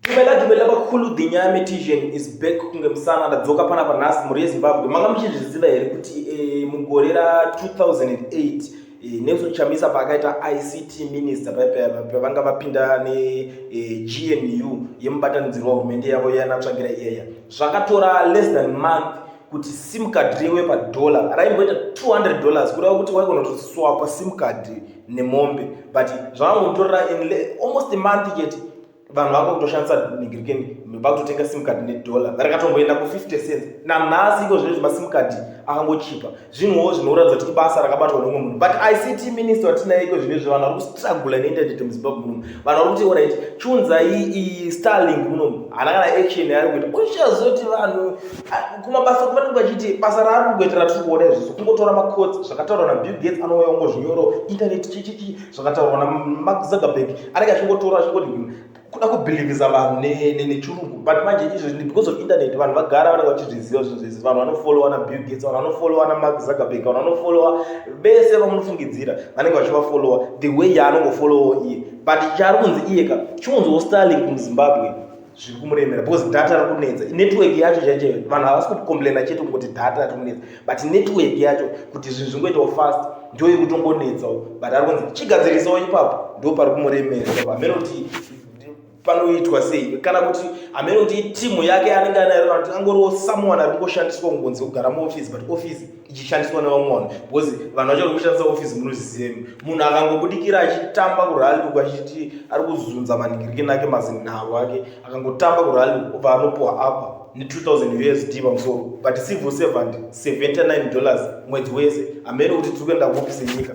Dumela dumela vakhulu the nyame tision is back kunge musana ndadzoka pana pa nhasi mhuri yezimbabwe manga muchizviziva here kuti eh, mugore ra 2008 eh, nelson chamisa paakaita ict minister pavanga vapinda negnu eh, yemubatanidzirwa hurumende yavo yanatsvagira iyaya zvakatora less than month kuti sim card riwe padollar raimboita 200 dollars kureva kuti waigona kutoswapa sim card nemombe but zvavangotorera in almost a month chete vanhu vanga kutoshandisa nigirikeni vakutotenga sim card nedollar rakatomboenda ku50 cents nanhasi iko zvino zvimasim card akangochipa zvinhuwo zvinoratidza kuti ibasa rakabatwa nomwe munhu but ict minister watinaye iko zvino izvo vanhu vari kustragula neinternet muzimbabwe munomu vanhu vari kuti orit chunzai iyi starlink munomu hana kana action yaari kuita uchazoti vanhu kumabasa kuva nenge vachiti basa raari kungoitira tiri kuona izvi sokungotora macots zvakataurwa nabill gates anouya ungozvinyoro internet chichichi zvakataurwa namark zuckerberg anenge achingotora achingoti hmm, kuda kubhilivisa vanhu nechirungu but manje izvezvi because of internet vanhu vagara vanenge vachizviziva zvinhu zvese vanhu vanofollowa nabill gates vanhu vanofollowa namark zuckerberg vanhu vanofollowa vese vamunofungidzira vanenge vachivafollowa the way yaanongofollowa iye but chaari kunzi iyeka chiunziwo starling muzimbabwe zviri kumuremera because data rikunetsa network yacho chaichaiyo vanhu havasi kucomplaina chete kungoti data rikunetsa but network yacho kuti zvinhu zvingoitawo fast ndo iri kutongonetsawo but ari kunzi chigadzirisawo ipapo ndo pari kumuremera ipapo hameno kuti panoitwa sei kana kuti hameno kuti itimu yake anenge anayo kana kuti angoriwo someone ari kungoshandiswa kungonzi kugara muoffice but office ichishandiswa nevamwe vanhu because vanhu vacho vari kushandisa ofisi munozviziva munhu akangobudikira achitamba kurali uku achiti ari kuzunza maningirike nake mazinharo ake akangotamba kurali uku obva anopuwa apa ne2000 usd pamusoro but civil servant 79 dollars mwedzi wese hamene kuti tiri kuenda kuofisi yenyika